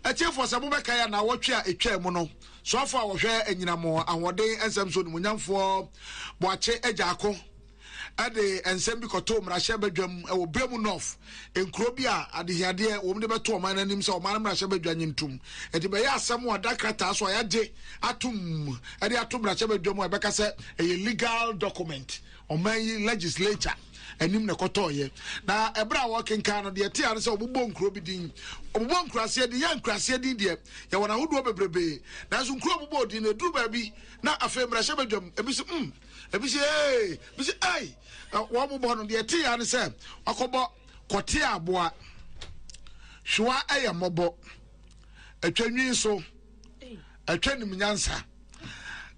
Atiefo, sɛ mobɛkae anawɔtwe a etwaa mu no, soafo a wɔhwɛ anyinam ahoɔden nsɛm so onimonyamfoɔ Boakye Agyaako de nsɛm bi kɔtoo mmarahyɛ badwam wɔ Biam North, nkuro bi a adehiadeɛ wɔm de bɛto ɔman no anim sɛ ɔman no mmarahyɛ badwa nye ntom. Enti bɛyɛ asɛm a wɔada krataa so a yɛagye atom de ato mmarahyɛ badwam a ɛbɛka sɛ ɛyɛ legal document. Ɔman yi legislature anim na ɛkɔtɔɔeɛ. Na ɛberɛ a wɔrekenkan no, deɛ ɛte ara ne sɛ wɔbobɔ nkuro bi din. Wɔbobɔ nkuraseɛ din. Yɛn nkuraseɛ din deɛ, yɛwɔ no ahodoɔ bebrebe. Nanso nkuro a wɔbobɔɔ din no, ɛduru baabi na afei mmarahyɛ badwam. Ebi se, mm! Ebi se, ee! Ebi se, ei! Wɔrebobɔ no, deɛ ɛte ara ne sɛ wɔakɔbɔ kɔteɛ aboa. Hwewa yɛ mmɔbɔ. Atwa nwi nso. Ɛtwa nim nyansa.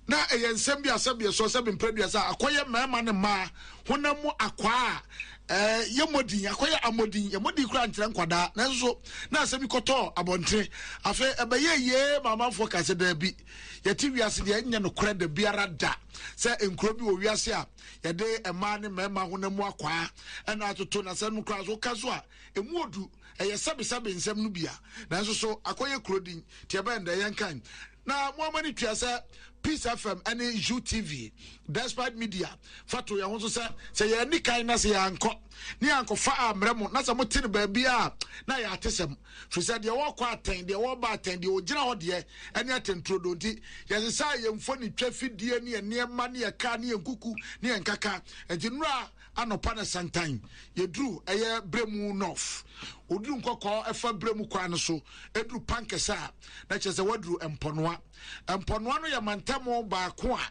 Na ɛyɛ nsɛm bi a sɛbi ɛsoɔ sɛbi mprɛduasa a akɔyɛ mmarima ne mmaa honam mu akwaa a ɛɛ yɛ mɔdin akɔyɛ amɔdin yɛ mɔdin kura nkyerɛ nkwadaa nanso na asɛm yi kɔtɔ abɔnten afei ɛbɛyɛ yie maamanfoɔ kase daabi yɛte wiase deɛ ɛnyɛ no korɛ da biara da sɛ nkuro bi wɔ wiase a yɛde mmaa ne mmarima honam mu akwaa ɛna atoto na sɛ no kura so ka so a Emu odu, ɛyɛ sɛbesɛbe nsɛm no bi a, nanso so akɔyɛ kuro din? Te ɛbɛn dɛ, yɛnkan na mo ama no tua sɛ Peace FM ne UTV, Despite Media, fa to yɛn ho so sɛ, sɛ yɛanni kan na sɛ yɛankɔ na yɛankɔfa ammrɛ mo na sɛ mote no baabi a na ɛyɛ atesɛm. Firi sɛ deɛ wɔkɔ atɛn, deɛ wɔba atɛn, deɛ ɔgyina hɔ deɛ ɛne atɛnturodoo nti, yɛsesaa yɛn mfonitwa afidie ne yɛn nneɛma ne yɛn kaa ne yɛn kuku ne yɛn nkaka. Enti nnora, Anɔpa na santan, yɛduru ɛyɛ Bremu North. Woduru nkɔkɔɔ ɛfa Bremu kwan no so, ɛduru Pankɛsɛ a, na kyerɛ sɛ woaduru Mpɔnoa. Mpɔnoa no yɛ mantam baako a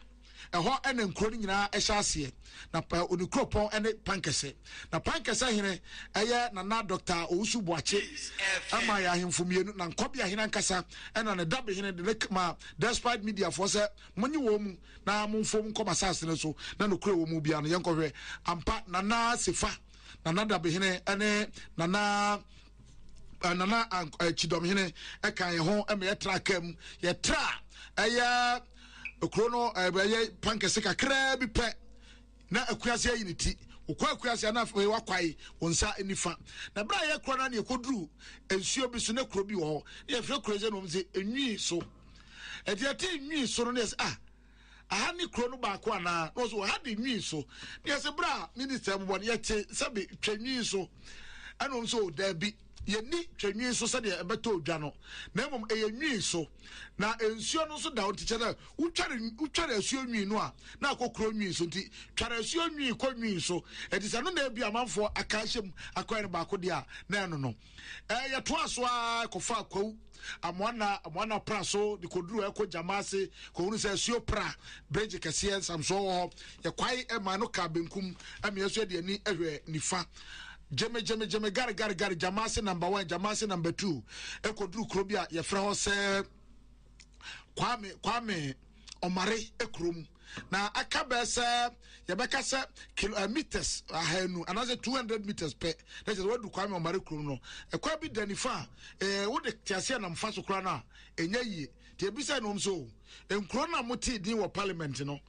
ɛhɔ na nkuro no nyinaa ɛhyɛ aseɛ. Na ne kuropɔn ɛne Pankɛsɛ. Na Pankɛsɛ hene ɛyɛ Nana Dɔkta Owusu Boakye ɛma yɛ ahemfo mmienu. Na Nkɔbea hene ankasa ɛna ne dabehene de ne ma Despite Media foɔ sɛ monye wɔn mu. na momfom nkɔ m'asase no so na nokorɛ a ɛwɔ mu biara no, yɛnkɔhwɛ. Ampa, Nana Sefa, Nana Dabehene ne Nana eh, Nana eh, Kyidɔmhene ɛka yɛn ho ma yɛtraa kaa mu. Yɛtraa ɛyɛ kuro no eh, ɛyɛ pankɛse kakraa bi pɛ na akuase ayi ne ti wokɔ akuase na afei wakwae wɔn nsa nifa na berɛ a yɛkora no ne ɛkɔduru nsuo bi so na kuro bi wɔ hɔ ne yɛfrɛ kuro sɛ nom sɛ ɛnwii so ɛde ɛte nwi so no ne ɛsɛ ah aha ne kuro no baako anaa na ɔsɛ ɔha de nwi so ne ɛsɛ berɛ a minista bobɔ no yɛte sɛbe twa nwi so ɛna ɔm sɛ ɔdaabi yɛni twa nwi so sɛdeɛ ɛbɛtɔ odwa no na mmom ɛyɛ nwi so na nsuo no nso da ɔnti kyɛ dɛ wotware asuo nwi no a na akɔ kuro nwi so nti tware asuo nwi kɔ nwi so ɛti sɛ no na ebi amanfoɔ aka ahyɛ mu akɔyɛ no baako deɛ a na ɛno no ɛɛ yɛtoa so ara kɔfa kwawu amoana amoana pra so de kɔduru ɛkɔ gyama ase kɔhunu sɛ asuo pra bridge kɛseɛ nsamsoɔ wɔ hɔ yɛkwae ɛma no ka benkum ɛmeɛ so ɛde ani ɛhwɛ nifa gyeme gyeme gyeme gare gare gare gyama ase number one gyama ase number two ɛkɔduru kuro bi a yɛfrɛ hɔ sɛ kwame kwame ɔmare ekuro mu na aka bɛɛ sɛ yɛbɛka sɛ kilo uh, meters ahanu uh, anaasɛ two hundred meters pɛ na kyerɛ sɛ wadu kwame ɔmare kuro mu no ɛkwan bi da nifa a ɛɛ eh, wode tease anam fa so koraa no a ɛnyɛ yie te ebi sɛ nom so nkuro no a mo tee din wɔ parliament no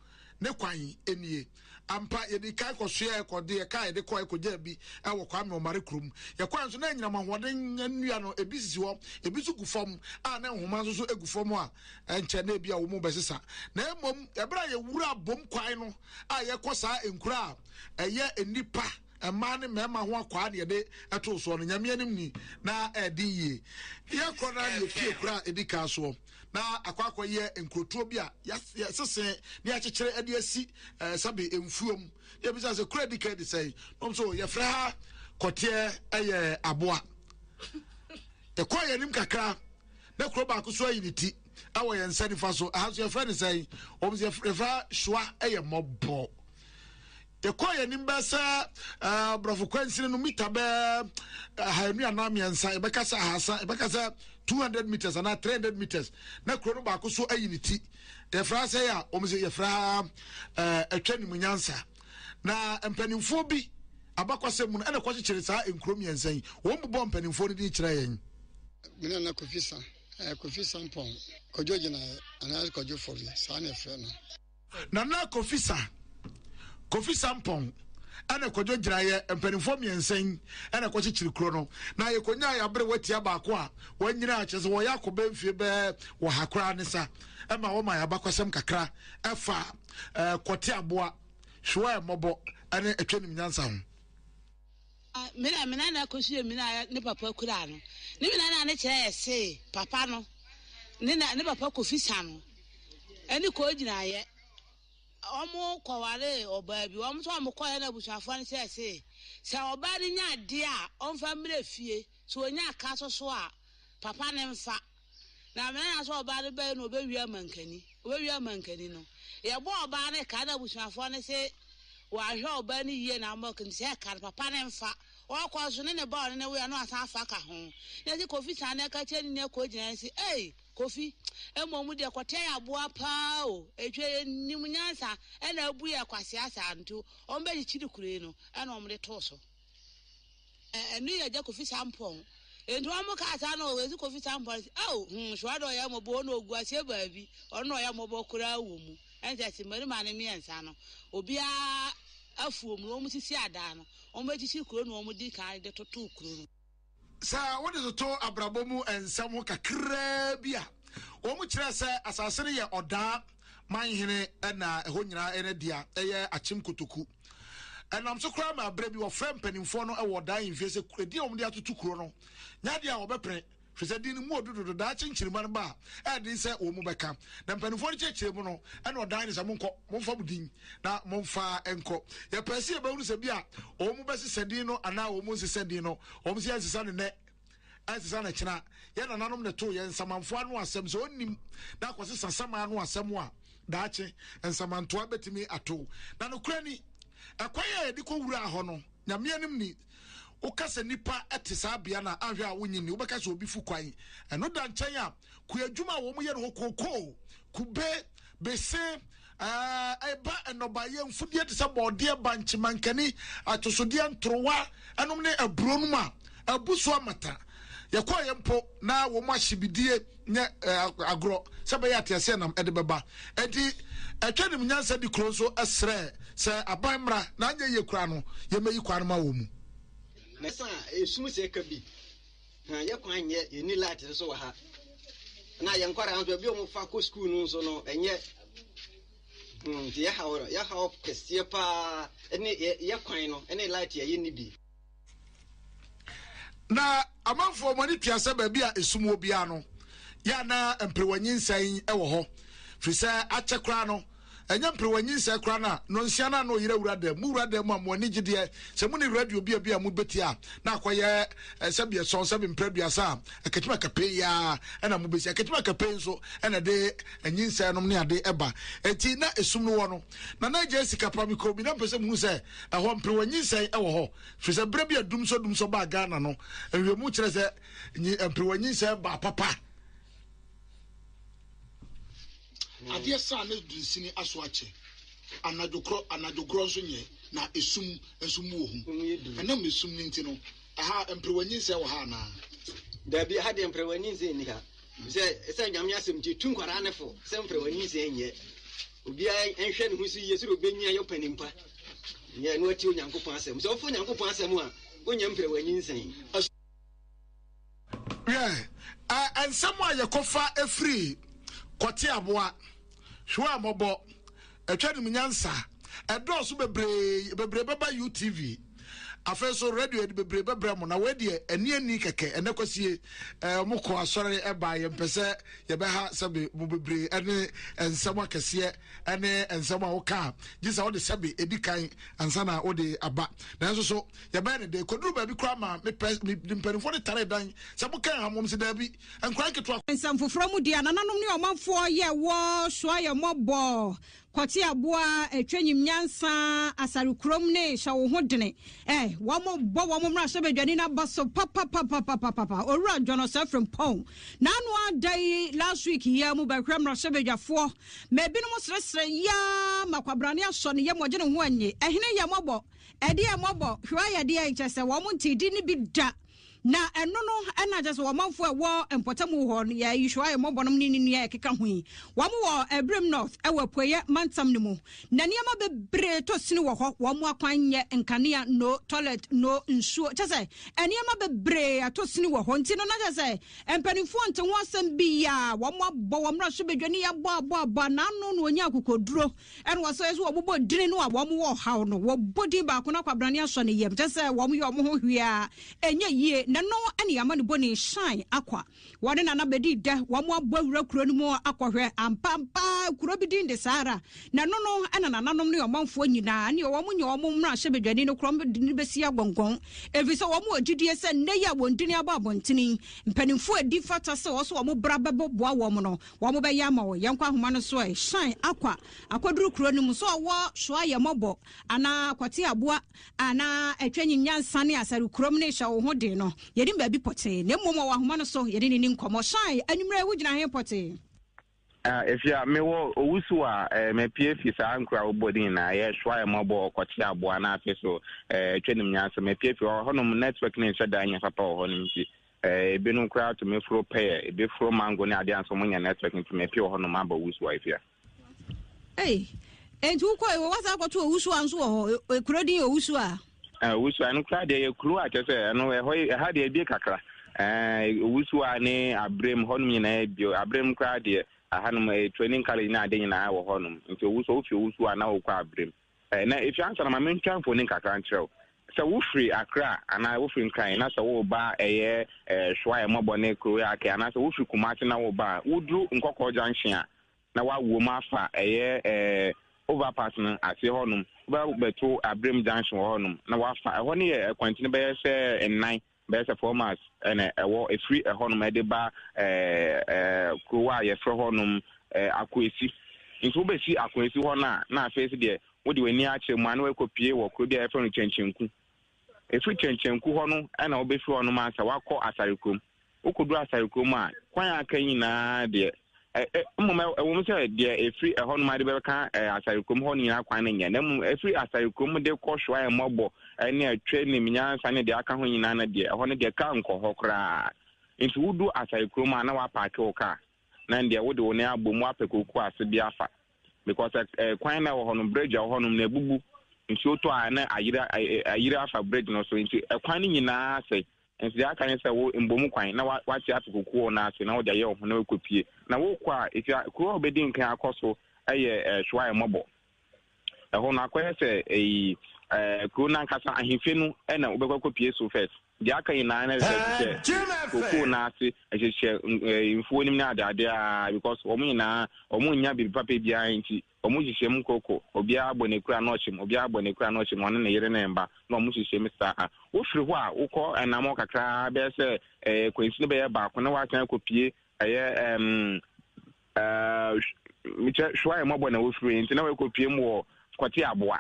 ne kwan nie. Ampa, yɛdii kan kɔsoɛɛ, kɔde yɛn kaa yɛde kɔe kɔgyaa bi wɔ Kwame Ɔmare kurom. Yɛkɔe nso na anyinam ahoɔden nnua no, ebi sisi hɔ, ebi nso gu fam a na nhoma nso so gu fam a ɛnkyɛ na ebia wɔrebɛsesa. Na mmom, bere a yɛwuraa Bom Kwae no a yɛkɔ saa nkuro a ɛyɛ nnipa Mmaa ne mmarima ho akwaa deɛ de ɛtoo soɔ no, Nyame anim ni, na ɛɛden yie. Deɛ ɛkorɔ no ara deɛ efie koro a edi kan soɔ, na akɔ akɔ yɛ nkurotuo bi a yɛasese ne yɛakyekyere de asi ɛɛ sɛbe mfuo mu. Deɛ ebisa sɛ kuro a edi kan de sɛn, na wɔn so yɛfrɛ ha kɔteɛ ɛyɛ aboa. Yɛkɔɔ yɛn anim kakra, na kuro baako so ayi ne ti ɛwɔ yɛn nsa nifa so, ɛha nso yɛfrɛ ne sɛn, wɔn so yɛfrɛ ha hyua ɛyɛ mmɔbɔ. Yɛkɔɔ yɛn anim bɛyɛ sɛ ɛɛ borɔfo kwansini no mita bɛɛ ahanu anaa mmiɛnsa yɛbɛka sɛ ahasa yɛbɛka sɛ two hundred meters anaa three hundred meters na kuro no baako so ayi ne ti yɛfrɛ asɛ yɛ a wɔn sɛ yɛfrɛ ha ɛɛ atwa ne mu nyansa na mpanimfoɔ bi abakɔsɛm mu no ɛna kɔkyekyere saa nkuro mmiɛnsa yi wɔn bobɔ mpanimfoɔ no din kyerɛ yɛn. Mina na Kofi San ɛɛ Kofi Sampɔn kɔdwo gyinaeɛ anaa kɔdwo fɔbi saa na ɛfrɛ no. Nana Kofi Sa, Kofi Sarpong, ɛna Kwadwo Gyiraeɛ, mpanimfoɔ mmiɛnsa yi ɛna ɛkɔkyekyere kuro no, na yɛkɔnyaeɛ aberewa tia baako a wanyina, kyerɛ sɛ wɔyɛ akɔ bɛyɛ mfie bɛyɛ ɔha koraa ne sa, ɛma wɔma yɛn abakɔsɛm kakra ɛfa Kɔte Aboa, Hwewaa Mmɔbɔ, ɛne Atwanim Nyansa ho. Me na me nana kɔhyiaa mina a ne papa kuraa no. Ne mina no a ne kyerɛ yɛ se papa no ne na ne papa Kofi Sano ɛne kɔɔ gyinaeɛ. Wɔn kɔware ɔbaa bi. Wɔn nso wɔn kɔɛ na abusuafoɔ no kyerɛ se sɛ ɔbaa no nya adeɛ a ɔmfa mmerɛ fie. Sɛ ɔnya ka so so a papa no mfa. Na me nana sɛ ɔbaa no bɛyɛ no ɔbɛwie amankani ɔbɛwie amankani no yɛbɔ ɔbaa no ka na abusuafoɔ no se wɔahwɛ ɔbaa no yie na ama kani sɛ ka no papa no mfa ɔkɔ nso ne ne ba ɔne ne wea no asan afa ka ho na se kofi saa na ɛka kyerɛ ne nua kɔ gyina se ei kofi mmom deɛ kɔteɛ yɛ aboa paa o ɛtwa yɛ nim nyansa ɛna abu yɛ kwasea saa nti wɔn bɛgye kyiri kuro yi no ɛna wɔn de too so Ɛ ɛno yɛ gya kofi sampɔn nti wɔn kaa saa na wɔdze kofi sampɔn sɛ ao hmm soa dɛ ɔyɛ mmɔbɔ wɔn na ogu aseɛ baabi ɔno na ɔyɛ mmɔbɔ koraa wɔ mu ɛnkyɛ se mmarima no mmiɛnsa no obiara afuom no wɔn sisi adan no wɔn akyikyiri kuro na wɔn di kan de totoo kuro no. Sɛ wode toto abrabɔ mu nsɛm ho kakraa bi a, wɔkyerɛɛ sɛ asase no yɛ ɔdaa man hene na ɛhɔ nyinaa yɛ ne dea, ɛyɛ akyem kotoku. Ɛnam so koraa ma berɛ bi wɔfrɛ mpanimfoɔ no wɔ ɔdaa mfie sɛ edin a wɔde atoto kuro no nyɛ adeɛ a wɔbɛpene, firi sɛ din no mu ɔdo dodo, daakye nkyirimma no ba a ɛyɛ den sɛ wɔn mu bɛka. Na mpanimfoɔ no kyerɛkyerɛ mu no na ɔdaa no sɛ monkɔ, momfa mo din. na momfa nkɔ. Yɛpɛɛ sɛ yɛbɛhunu sɛ bi a wɔn bɛsesɛ din no anaa wɔn nsesɛ din no, wɔn sɛ yɛnsesa no nnɛ, ɛnsesa no kyena. Yɛn nananom na ɛtoo yɛn nsamanfoɔ ano asɛm sɛ ɔnnim na akɔsesa saman ano asɛm a daakye nsamantoa bɛtumi ato. Na nokorɛ ni, ɛkwan a yɛde kɔwuraa hɔ no, Nyame anim ni, woka sɛ nnipa te saa bea no a, anhwɛ a wonnye nni, wobɛka sɛ obi fu kwan. Ɛno da nkyɛn a, kuadwuma a wɔyɛ no hɔ kookoo, kube, bese, Ɛba nnɔbaeɛ mfudeɛ te sɛ bɔɔdeɛ, bankye, mankani, atosodeɛ, ntorowa nom ne aburo nom a, abu so amata. Yɛkɔeɛ mpo na wɔn ahyebidie nyɛ agorɔ sɛ ɛbɛyɛ a teaseɛnam de bɛba. Enti ɛtwa nim nyansa di kuro nso srɛ sɛ aban mmra na anyɛ yie koraa no yɛmmɛyi kwan no ma wɔn mu. Mɛsa a, ɛsum sɛ ɛka bi. Na yɛ kwan nyɛ yɛnni light nso wɔ ha na yɛn nkwadaa nso ebi wɔn fa kɔ sukuu no nso no ɛnyɛ hmm nti yɛ ha wɔ yɛ ha wɔ kɛseɛ paa ɛne yɛ yɛ kwan no ɛne light yɛ yɛ nni bi. na amanfoɔ wɔn ani tua sɛ baabi a esum wɔ biara no yɛ ana mperewa nyinsɛn wɔ hɔ firi sɛ akyɛ koraa no. Ɛnyɛ mperewa nyinsɛn koraa na Nonsia no a na ɔyere awura dan mu. Mo wura dan mu a mo ani gye deɛ sɛ mo ne radio bia bia mo bɛtie a na akɔyɛ sɛbi ɛsɔn sɛbi mprɛ aduasa a akatuma kapɛn yi ara ɛna mo bɛsi. Akatuma kapɛn nso ɛna ɛde nyinsɛn nom ne ade ɛba. Ɛnti na ɛsum no wɔ no. Na na ɛgya sika pa. Mekɔɔ bi na mpɛ sɛ mo hu sɛ ɛhɔ mperewa nyinsɛn ɛwɔ hɔ. Firi sɛ berɛ bi a dumsɔ dumsɔ baa Ghana no, nwiemu kyerɛ sɛ mperewa nyinsɛn baa papa. Adeɛ saa na dunsini aso akyɛ, anadwo korɔ, anadwo gorɔ nso nyɛ, na esum nso mu wɔ hu. Ɛnam esum no nti no, ɛha mperewa nyinsɛn wɔ ha anaa? Daabi, ɛha deɛ mperewa nyinsɛn nni ha, efisɛ ɛsiane Nyame asɛm nti, etu nkwadaa no fo sɛ mperewa nyinsɛn nyɛ. Obiara nhwɛ ne ho so yie sɛdeɛ obenyin ayɛ ɔpanin pa, na ɛno atie Onyankopɔn asɛm. Sɛ wofa Onyankopɔn asɛm a, wonnya mperewa nyinsɛn. Hwɛ, ɛ, nsɛm a yɛkɔfa firi kɔte aboa, hwɛ a mɔbɔ, ɛtwa nim nyansa, ɛdɔɔso bebree, bebree bɛba UTV, afei so radio yɛde bebree bɛbrɛ mo, na wei deɛ ɛni ɛni kɛkɛ, ɛnɛ kwasie, ɛ, mo kɔ asɔre ɛbaa, yɛn pɛ sɛ yɛbɛha sɛbe mo bebree ɛne nsɛm akɛseɛ ɛne nsɛm a woka a, gye sɛ wode sɛbe ɛdi kan ansa na wode aba, nanso so. Yɛbɛyɛ no dɛn? Ɛkɔduruu baabi koraa ma me pɛ, mede mpanimfoɔ no taree dan sɛ moka yɛn ha mmom. Wɔse, Daabi, nkwadaa nketewa. Nsɛm foforɔ mu deɛ, nananom ne ɔmanfoɔ yɛ wɔ soa yɛn mmɔbɔ, kɔte aboa, twa nyim nyansa, asare kurom ne hyɛ wo ho dene. Eh, wɔn bɔ wɔn mmarahyɛbadwani no aba so papapapapapapa. Owura John Ɔsɛe Frimpong, n'ano ada yi last week yi ara mu bɛhwɛ mmarahyɛbadwafoɔ ma ebinom seresere yaa ma kwabrane asɔ ne yam ɔgye ne ho anyi. Ɛhene yɛ mmɔbɔ. Ɛdeɛ mmɔbɔ hwɛ yɛ deɛ nkyɛ sɛ wɔn ntee din no bi da na ɛno no ɛna kyɛ sɛ wɔn manfoɔ ɛwɔ mpɔtamu hɔ no yɛ yi hwɛ yɛ mmɔbɔ nom ne ne nua ɛkeka ho yi wɔn wɔ Abirem North ɛwɔ apueɛ mantam no mu na nneɛma bebree tɔ sini wɔ hɔ wɔn akwan nyɛ nkanea no toilet no nsuo kyɛ sɛ nneɛma bebree atɔ sini wɔ hɔ nti no na kyɛ sɛ mpanimfoɔ nte ho asɛm bi yɛ a wɔn abɔ wɔn mmra so badwa ne yɛ abɔ abɔ abɔ anaano na wɔnya akokoduro Ɛna wɔsan nso wɔbobɔ dini no a wɔn wɔ ɔhaw no, wɔbɔ din baako na kwabrane asɔ ne yam, kyɛ sɛ wɔn yɛ wɔn ho hwee a ɛnyɛ yie, na ɛno ɛna yɛ ama ne bɔ ne shan akwa. Wɔn ne nana bɛdi dɛ, wɔn abɔ awura kuro no mu akɔ hwɛ, ampa ampa kuro bi din de saa ara, na ɛno no ɛna nananom ne ɔmanfoɔ nyinaa ne wɔn nyɛ wɔn mmra hyɛ badwani no korɔn de no bɛsi agɔngɔn, ɛfiri sɛ wɔn wɔ gyidie sɛ nnɛ yi a wɔn dini abɔ abɔntene yi, mpaninfoɔ a ɛdi fata sɛ wɔn nso wɔn bra bɛbɔ boa wɔn no, Wɔbɛyɛ ama wo. Yɛnkɔ ahoma no so ɛ. Hyɛn akwa akɔduru kuro no mu. Sɛ ɔwɔ soa yɛ mmɔbɔ anaa kɔte aboa a na atwa nyi nyansa ne asare kurom no rehyɛ wo ho den no, yɛnim baabi pɔtee. Na mmom ɔwɔ ahoma no so, yɛne no nni nkɔmmɔ. Hyɛn, anwummerɛ yi wogyina he pɔtee? Afia, mewɔ owusu a eh, mapue fi saa nkura wobɔ din na ɛyɛ soa yɛ mmɔbɔ ɔkɔte aboa na afei so eh, atwa nim nyansa. Mapue fi hɔ hɔnom network no nhyɛ da nyɛ papa wɔ hɔ no nti. Eh, ebinom koraa tumi foro pɛyɛ, ebi foro mango ne adeɛ a nso monyɛ network nti mepie wɔ hɔnom abɔ wusu a efia. Ei, enti wokɔ wɔ wasa akɔto owusu a nso wɔ hɔ, e, e, kuro din owusu a. Eh, owusu a ɛno koraa deɛ yɛ kuro a kyɛ sɛ ɛno ɛhɔ ɛha deɛ ebie kakra. Eh, owusu a ne abrem hɔnom nyinaa ebie, abrem koraa deɛ ahanom eh, training college ne ade nyinaa wɔ hɔnom nti owusu a wofi owusu a na wokɔ abrem Ɛ, na efi ansa na ma mentwa mfoni kakra nkyerɛ wo. Sɛ wofiri Accra anaa wofiri Nkran na sɛ woreba ɛyɛ ɛ, Hwae, Mmɔbɔ ne Kurowe Ake anaasɛ wofiri Kumasi na woreba a, woduru Nkɔkɔɔ Junction a, na woawo mu afa ɛyɛ ɛ, overpass no aseɛ hɔnom. Wobɛba abɛto Abrem Junction wɔ hɔnom na woafa. Ɛhɔ no yɛ akwantini bɛyɛ sɛ nnan bɛyɛ sɛ four miles ɛna ɛwɔ efiri ɛhɔnom ɛde ba ɛɛ ɛɛ kurowa a yɛfrɛ hɔnom ɛɛ akoesi nti wobɛsi akoesi hɔ no a na afei si deɛ wode w'ani akyerɛ mu a na wɔakɔ pie wɔ kuro bi a yɛfrɛ no kyɛnkyɛnku efiri kyɛnkyɛnku hɔ no ɛna wobɛfiri hɔnom ansa wakɔ asare kurom wokɔduru asare kurom a kwan a aka nyinaa deɛ Mmom ɛwom sɛ deɛ ɛfiri ɛhɔ nom ade bɛka asare kurom hɔ no nyinaa kwan no nyɛ, na mmom ɛfiri asare kurom de kɔ hwɛ a mmɔbɔ ne atwa nim nyansa ne deɛ aka ho nyinaa no deɛ ɛhɔ no deɛ ka nkɔ hɔ koraa. Nti wodu asare kurom a na wapaake wo kaa na deɛ wode wo nan abom wapɛ koku ase bi afa because kwan na ɛwɔ hɔ no bridge ɛwɔ hɔ nom na ɛbubu nsuo tɔ a na ayira ayira afa bridge no so nti ɛkwan no nyinaa sɛ Nso deɛ aka ne sɛ wo mbom kwan na wate ato kokoɔ no ase na wode ayɛ wo ho na wakɔpie. Na wokɔ a, ɛfia kuro a wobɛdi nkan akɔ so yɛ Hwae Mmɔbɔ. Ɛhɔ no akɔyɛ sɛ ɛyi kuro no ankasa ahemfie no na wobɛkɔ akɔpie so first. Deɛ aka nyinaa na ɛsɛ hyehyɛ kokoo no ase, hyehyɛ mfuo no mu ne adeade a because wɔn nyinaa wɔn nnya biribi papa biara nti. Wɔn nhyehyɛm nkorkor, obiara bɔ n'ekura na ɔkyem, obiara bɔ n'ekura na ɔkyem, ɔne ne yere ne ne mba, na wɔn nhyehyɛm saa ara. Wofir hɔ a, wokɔ anamɔn kakra ara, bɛyɛ sɛ ɛɛ kwansin bɛyɛ baako, na wɔasan akopue ɛyɛ ɛɛm ɛɛ, mekyɛ, Hwuaemɔbɔ na wofir, ntsi na wɔakopue mu wɔ Kɔtseaboa.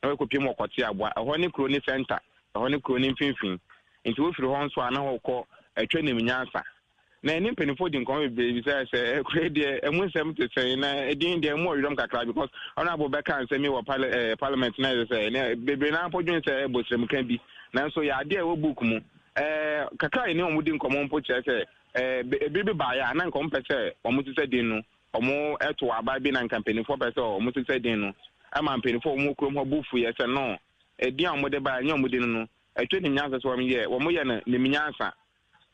na wɔakɔpiem wɔ Kɔteaboa. Ɛhɔ ne kuro no sɛnta, ɛhɔ ne kuro no mfimfini. Enti wofiri hɔ nso a, na wɔkɔ Atwanim Nyansa. Na yɛne mpanimfoɔ di nkɔmmɔ bebree bisae sɛ, Kuro yi deɛ, emu nsɛm te sɛn? Na edin deɛ, emu wɔ werɛm kakra because Honourable bɛkaa nsɛm yi wɔ pale eh, Parliament na ɛsɛ sɛ ɛnɛ bebree no ara mpo dwen sɛ bosremka bi. Nanso yɛ adeɛ a ɛwɔ book mu. Eh, kakra a yɛne wɔn di nkɔmmɔ mpo kyerɛ sɛ eh, ebiri bi baeɛ a na nka wɔmpɛ sɛ wɔsesa din no Wɔtow aba bi na anka mpanyimfo pɛ sɛ wɔsesa din no ma mpanyimfo a wɔwɔ kurom hɔ bo fuiɛ sɛ, No, edin a wɔde bae nyɛ wɔn din no. Ɛtwa nim nyansa sɛ wɔyɛ wɔyɛ no nim nyansa.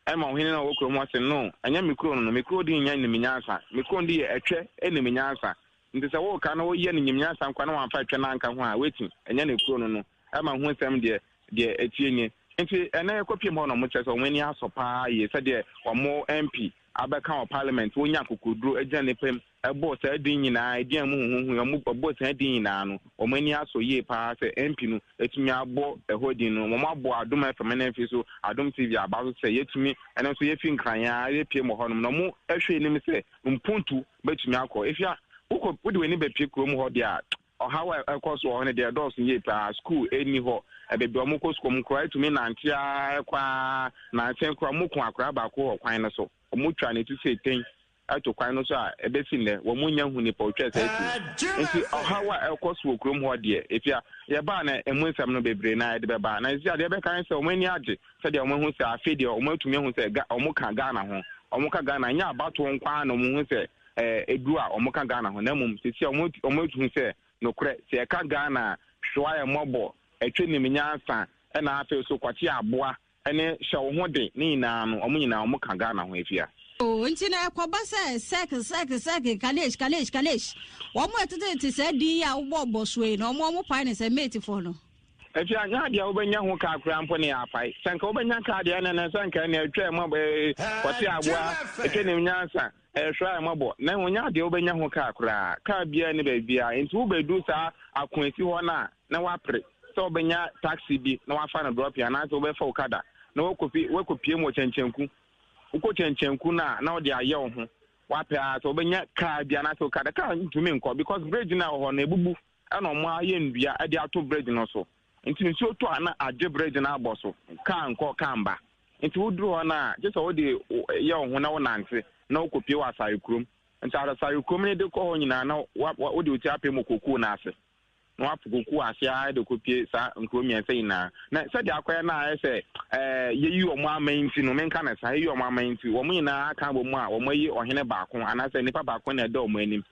Ɛma ɔhene no a ɔwɔ kurom hɔ se, No, ɛnyɛ me kurow no no. Me kurow din nyɛ nim nyansa. Me kurow no din yɛ Ɛtwɛ nim nyansa. Enti sɛ woreka na woyɛ no nim nyansa nkoa na woamfa Ɛtwɛ no anka ho a, woati. Ɛnyɛ ne kurow no no. Ɛma ho nsɛm deɛ deɛ ɛtie nie. Nti ɛnɛ yɛkɔpiem hɔ nom kyerɛ sɛ wɔn ani asɔ paa yie sɛdeɛ wɔn MP abɛka wɔ parliament, wɔnya akokoduro agyina nnipa mu, ɛbɔ saa din nyinaa, din a ɛmu huhuhui, wɔn ɛbɔ saa din nyinaa no, wɔn ani asɔ yie paa sɛ MP no atumi abɔ ɛhɔ din no. Wɔn abɔ Adom FM ne mfe so, Adom TV aba so sɛ yɛtumi, ɛno nso yɛfi nkran yɛn yɛpiem wɔ hɔ nom na wɔn ɛhwɛ anim sɛ mpuntu bɛtumi akɔ. Efia, wokɔ wode w'ani bɛpie kurom hɔ deɛ a, Ɔhaw a ɛkɔ so wɔ hɔ no deɛ ɛdɔɔso yie paa. Sukuu nni hɔ. Baabi a wɔkɔ sukuu wɔn koraa tumi nante ara kɔ ara. Nankyɛn koraa wɔku akwadaa baako wɔ kwan no so. Wɔtwa ne ti sei tɛn ato kwan no so a ɛbɛsi nnɛ wɔnnya nhu nipa ɔtwaa saa ti no. Nti ɔhaw a ɛkɔ so wɔ kurom hɔ deɛ efia yɛbaa na ɛmu nsɛm no bebree na yɛde bɛbaa. Na nsia deɛ ɛbɛka ne sɛ wɔn ani agye sɛdeɛ wɔn ahu sɛ afei deɛ wɔn atumi ahu sɛ wɔka Ghana ho. Wɔka Ghana nyɛ abatoɔ nko ara na wɔn hu sɛ aduru a wɔka Ghana ho na mmom sisi a wɔatuhu sɛ nokorɛ sɛ yɛka Ghana a hwewa yɛ mmɔbɔ, ɛtwe nim nyansa ɛna afei so kwakye aboa ɛne hyɛ wo ho de ne nyinaa no wɔn nyinaa wɔka Ghana ho afia. Oh, nti na ɛkɔba sɛ sɛk sɛk sɛk kalesh kalesh kalesh wɔn ɛtetete saa din yi a wobɔ bɔ soɔ yi na wɔn wɔn pae ne sɛ mate foɔ no. Afia nyɛ adeɛ a wobɛnya ho kaa koraa mpo ne yɛapae sɛ nka wobɛnya kaa deɛ ɛnɛ sɛ nka ɛnɛ atwa ɛmɔ kwakye aboa ɛtwa nim nyansa Ɛhwɛ a mmɔbɔ, na wonyaa deɛ wobɛnya ho kaa koraa. Kaa biara nni baabiara, enti wobɛduru saa akoasi hɔ no a, na woapere sɛ wobɛnya taksi bi na woafa no drɔpin anaasɛ wobɛfa okada na woakɔpie mu wɔ Kyɛnkyɛnku. Wokɔ Kyɛnkyɛnku no a, na wode ayɛ wo ho. Woapɛ ara sɛ wobɛnya kaa bi anaasɛ okada. Kaa ntumi nkɔ because bridge no a ɛwɔ hɔ no, abubu na wɔayɛ nnua de ato bridge no so. Nti nsuo tɔ a na adwe berɛ gyina abɔ so, kaa nkɔ kaa mba. Nti woduru hɔ no a, gye sɛ wode yɛ wo ho na wonante na wokɔpue wɔ asare kurom. Nti asare kurom no de kɔ hɔ nyinaa na wode wo ti apem wɔ kokuo no ase, na woapo kokuo ase ara de kɔpue saa nkuro mmiɛnsa nyinaa. Na sɛdeɛ akɔyɛ no a ayɛ sɛ ɛɛ yɛyi wɔn aman nti no, menka no saa, yɛyi wɔn aman nti, wɔn nyinaa aka abɔ mu a wɔayi ɔhene baako anaasɛ nipa baako na ɛda wɔn anim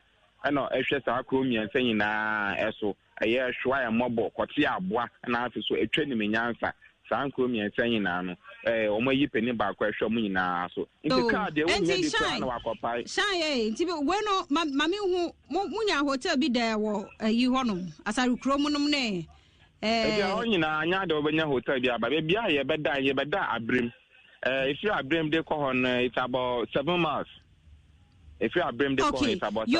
na ɛhwɛ saa kuro mmiɛnsa nyinaa ɛso, ɛyɛ ɛhwɛ a ɛmɔbɔ kɔte aboa na afe so ɛtwa nim nyansa saa nkuro mmiɛnsa nyinaa no ɛɛ wɔn ayi panin baako ɛhwɛ wɔn nyinaa so nti oh, kaa deɛ wɔnyɛ bi koraa na wakɔpae. shan yɛ eh, nti wei no maame hu mo mo nya hotel bi dɛ wɔ ɛyi eh, hɔnom asare kuro mu nom ne. Eh, ebi a wɔn nyinaa nya de wɔbɛnya hotel bi aba beebi a yɛbɛda yɛbɛda abirim ɛɛ efiri abirim de kɔ hɔ no it's about seven miles efiri abirim de kɔ hɔ it's about seven.